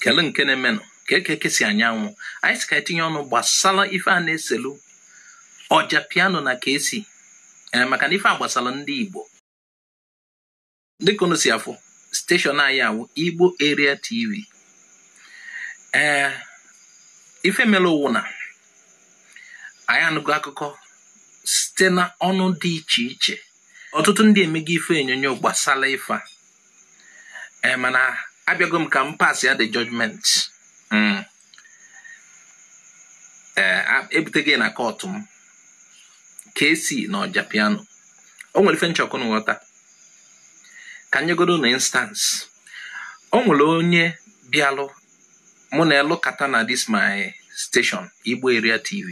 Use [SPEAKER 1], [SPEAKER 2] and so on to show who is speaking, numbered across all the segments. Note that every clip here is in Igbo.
[SPEAKER 1] kele nke na-emenụ kee ka eke si anya anwụ anyị sị ka anyị tinye ọnụ gbasara ife a na-eselu ọja piano na Kcee ee maka na ife a gbasara ndị Igbo dịka unu si afụ steshọn anyị awụ Igbo Area TV ee ife mere ọ wụ na anyị anụgo akụkọ site na ọnụ dị iche iche ọtụtụ ndị emego ife onyonyo gbasara ife a ee eh, mana abịago m ka m pass ya the judgment hmm. eh, ebutego na kọtụ m Kcee na ọja piano o nwere ife m chọ ka unu ghọta ka m nyegodo unu instance o nwere onye bịalụ mụ na ya alụkata na this my station Igbo Area TV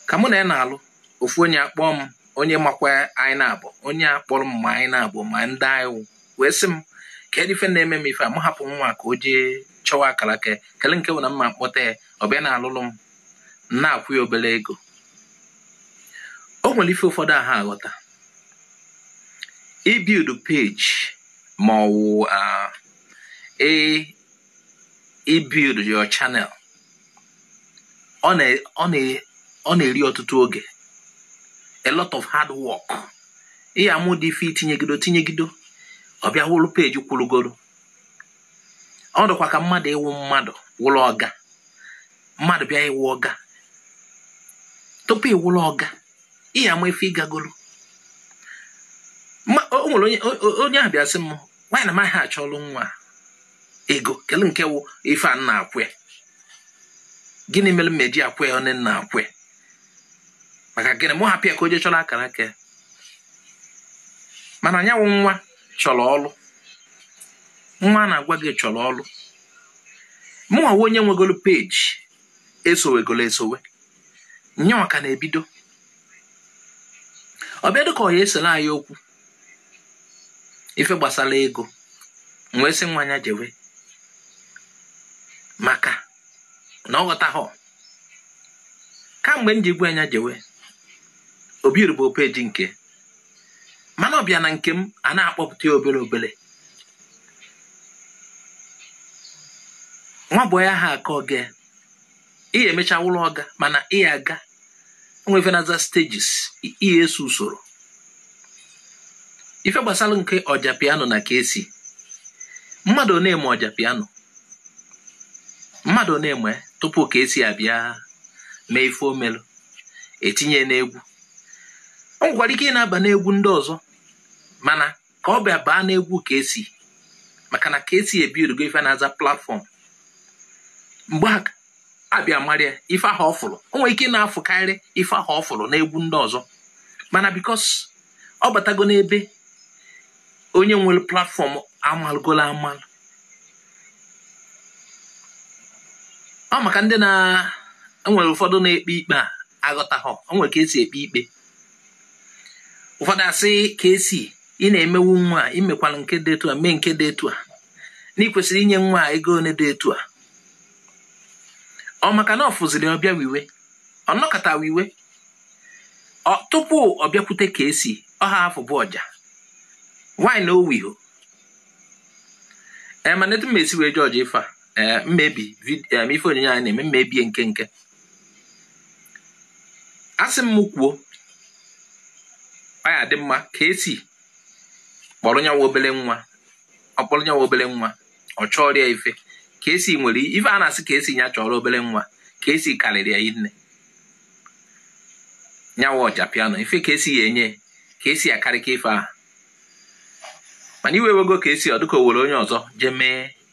[SPEAKER 1] ka mụ na ya na-alụ ofu onye akpọọ m onye makwa anyị naabọ onye a kpọrọ m ma anyị naabọ ma ndị anyị wụ wee sị m kedu ife na-eme m ife a m hapụ nwa ka o jee chọwa akara aka ya kele nke wụ na mụ akpọta ya ọ bịa na-alụlụ m m na-akwụ ya obere ego o nwere ife ụfọdụ aha aghọta ịbuild peji ma ọ wụ ibuild your channel ọ na-eri ọtụtụ oge a lot of hard work ị ya-ama ụdị ife i tinyegido tinyegido ọ bịa wụrụ peji kwụrụgoro ọ dịkwa ka mmadụ ịwụ mmadụ wụrụ ọga mmadụ bịa ịwụ ọga tupu ịwụrụ ọga ị ya-ama ife ị gagoro o nwere onye ahụ bịa sị m nwa a na amaghị achọrọ onwe ya ego kele nke wụ ife a na-akwụ ya gịnị mere m eji akwụ ya na m na-akwụ ya maka gịnị mụ hapụ ya ka o jee chọrọ akara aka ya mana nya wụ nwa chọrọ ọrụ nwa na-agwa gị chọrọ ọrụ mụnwa wụ onye nwegolo peji esowegolo esowe nyanwa ka na-ebido ọ bịa dịka ọ ya-esere anyị okwu ife gbasara ego m wee sị nwa nya jewe maka na ọ ghọtaghọ kamgbe m ji gwa ya jewe o buildubehọ peji nke ya mana ọ bịa na nke m a na-akpọpụta ya obere obere nwa bọị aha aka ọga ị ya-emecha wụrụ ọga mana ị ya-aga o nwe ife na-aza stages ị ya-eso usoro ife gbasara nke ọja piano na Kcee mmadụ one ma ọja piano mmadụ one ma tupu Kcee abịa mee ife o melu etinye n'egwu o nwekwara ike ịna-aba n'egwu ndị ọzọ mana ka ọ bịa baa n'egwu Kcee maka na Kcee ebuildugo ife a na-aza platform mgbe a bịa mara ya ife ahụ ọ fụrụ o nwere ike ị na-afụkarị ife ahụ ọ fụrụ n'egwu ndị ọzọ mana because ọ batago n'ebe onye nwere platform amalụgolo amalụ ọ maka ndị na e nwere ụfọdụ na-ekpe ikpe a aghọtaghọ o nwere ka esi ekpe ikpe ụfọdụ asị Kcee ị na-emewu nwa a imekwala nke dị etu a mee nke dị etu a na ị kwesịrị inye nwa a ego one dị etu a ọ maka na ọ fụziri ọ bịa wee iwe ọ nọkata wee iwe tupu ọ bịakwute Kcee ọ ha afụbu ọja why na o wehọ ee mana etu m esi wee judge ife a ee mmebi vid- em, ife onyonyo anyị na-eme mmebie nke nke asị m kwuo ọ ya dị mma Kcee kpọrọ nyawa obere nwa ọ kpọrọ nyawa obele nwa ọ chọrọ ya ife Kcee nwere ife a na-asị Kcee nya chọrọ obele nwa Kcee karịrị ya nne nyawa Ojapiano ife Kcee ya enye Kcee akarịka ife ahụ mana iwe wego Kcee ọ dịka o were onye ọzọ jee mee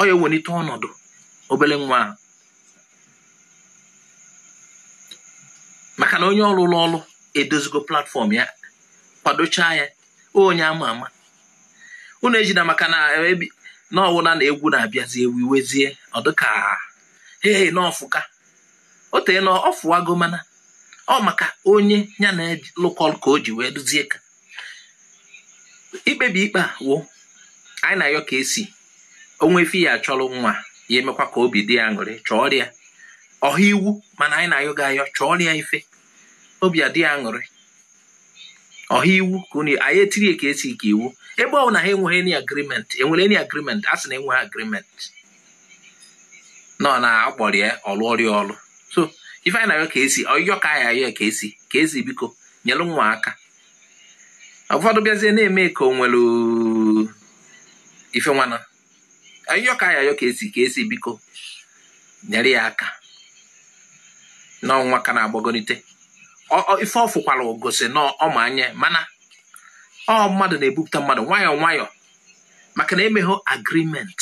[SPEAKER 1] ọ ya ewenite ọnọdụ obele nwa maka na onye ọ lụlụ ọrụ edozigo platform ya kwadochaa ya onye ama ama unu ejina maka na ọ wụ na egwu na-abịazi ewu i wezie ọ dịka ee na ọ fụka o teena ọ fụwago mana ọ maka onye ya na local ka o ji wee duzie ka ikpebi ikpe a wụ anyị na-ayọ Kcee o nwee ife ya achọrọ nwa ya emekwa ka obi dị ya aṅụrị chọrọ ya ọha iwu mana anyị na-ayọ gị ayọ chọrọ ya ife obi adị ya aṅụrị ọha iwu ka anyị etiri Kcee ka iwu ebe ọ na ha enweghị any agreement enwere any agreement a sị na enweghị agreement nọ na akpọrọ ya ọlụ ọ rụọ ya ọlụ so ife anyị na-ayọ Kcee ọyọ ka anyị ayọ Kcee Kcee biko nyelu nwa aka ụfọdụ bịazie na-eme ka o nwere ife nwana ayọ ka a ya-ayọ Kcee Kcee biko nyere ya aka na ọ nwa ka na-agbagonite ife ọ fụkwara gosi na ọ ma anya mana ọ mmadụ na-ebupụta mmadụ nwayọọ nwayọọ maka na emeghị agreement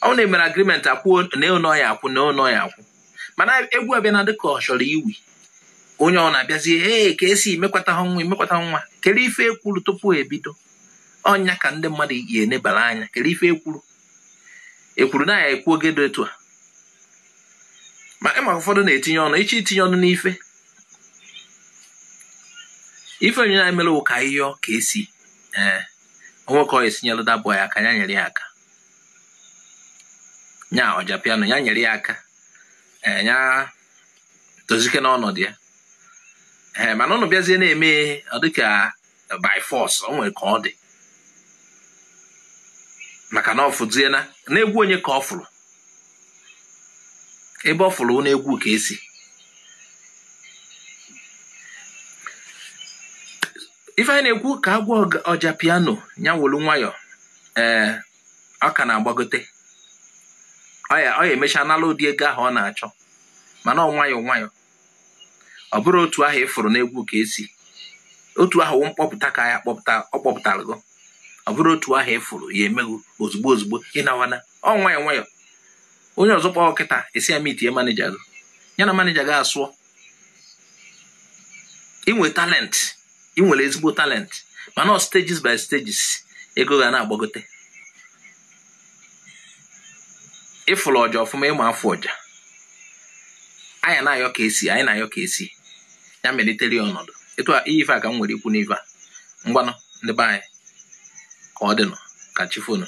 [SPEAKER 1] ọ wụ na e mere agreement akwụ na ụnọ ya akwụ na ụnọ ya akwụ mana egwu abịa na dịka ọ chọrọ iwu onye ọ na-abịazi ee Kcee emekwata ha nwa emekwata nwa kere ife ekwuru tupu ebido ọ nya ka ndị mmadụ yi enebara anya kere ife ekwuru ekwuru na ya ekwu oge dị etu a ma ịma ụfọdụ na-etinye ọnụ iche itinye ọnụ n'ife ife onye na-emere ụka ihe Kcee ee o nwee ka o si enyelụ dabụ ya aka ya nyere ya aka nya Ojapiano ya nyere ya aka eh, ya tozike n'ọnọdụ ya ee eh, mana ụnụ bịazie na-eme ọ dịka by force o nwere ka ọ dị maka na ọ fụzie na n'egwu onye ka ọ fụrụ ebe ọ fụrụ n'egwu Kcee ife anyị na-ekwu ka agwa Ojapiano ya wolu nwayọọ ee ọ ka na-agbagote ọ ya emecha nala ụdị ego ahụ ọ na-achọ mana ọ nwayọọ nwayọọ ọ bụrụ otu ahụ ị fụrụ n'egwu Kcee otu ahụ mkpọpụta ka ya kpọpụta ọ kpọpụtara gị ọ bụrụ otu ahụ ị fụrụ ya emeghu ozugbo ozugbo ịnawana ọ nwayọọ nwayọọ onye ọzọ kpọọ kịta ị sị ya meetie manager gị ya na manager gị asụọ ị nwe talent ị nwere ezigbo talent mana ọ stages by stages ego ga na-agbagote ị fụrụ ọja ọfụma ị ma afụ ọja anyị na-ayọ Kcee anyị na-ayọ Kcee ya melitere ya ọnọdụ etu a ife a ka m nwere ikwu n'ife a ngwanụ ndị be anyị ka ọ dịnụ ka chi fonu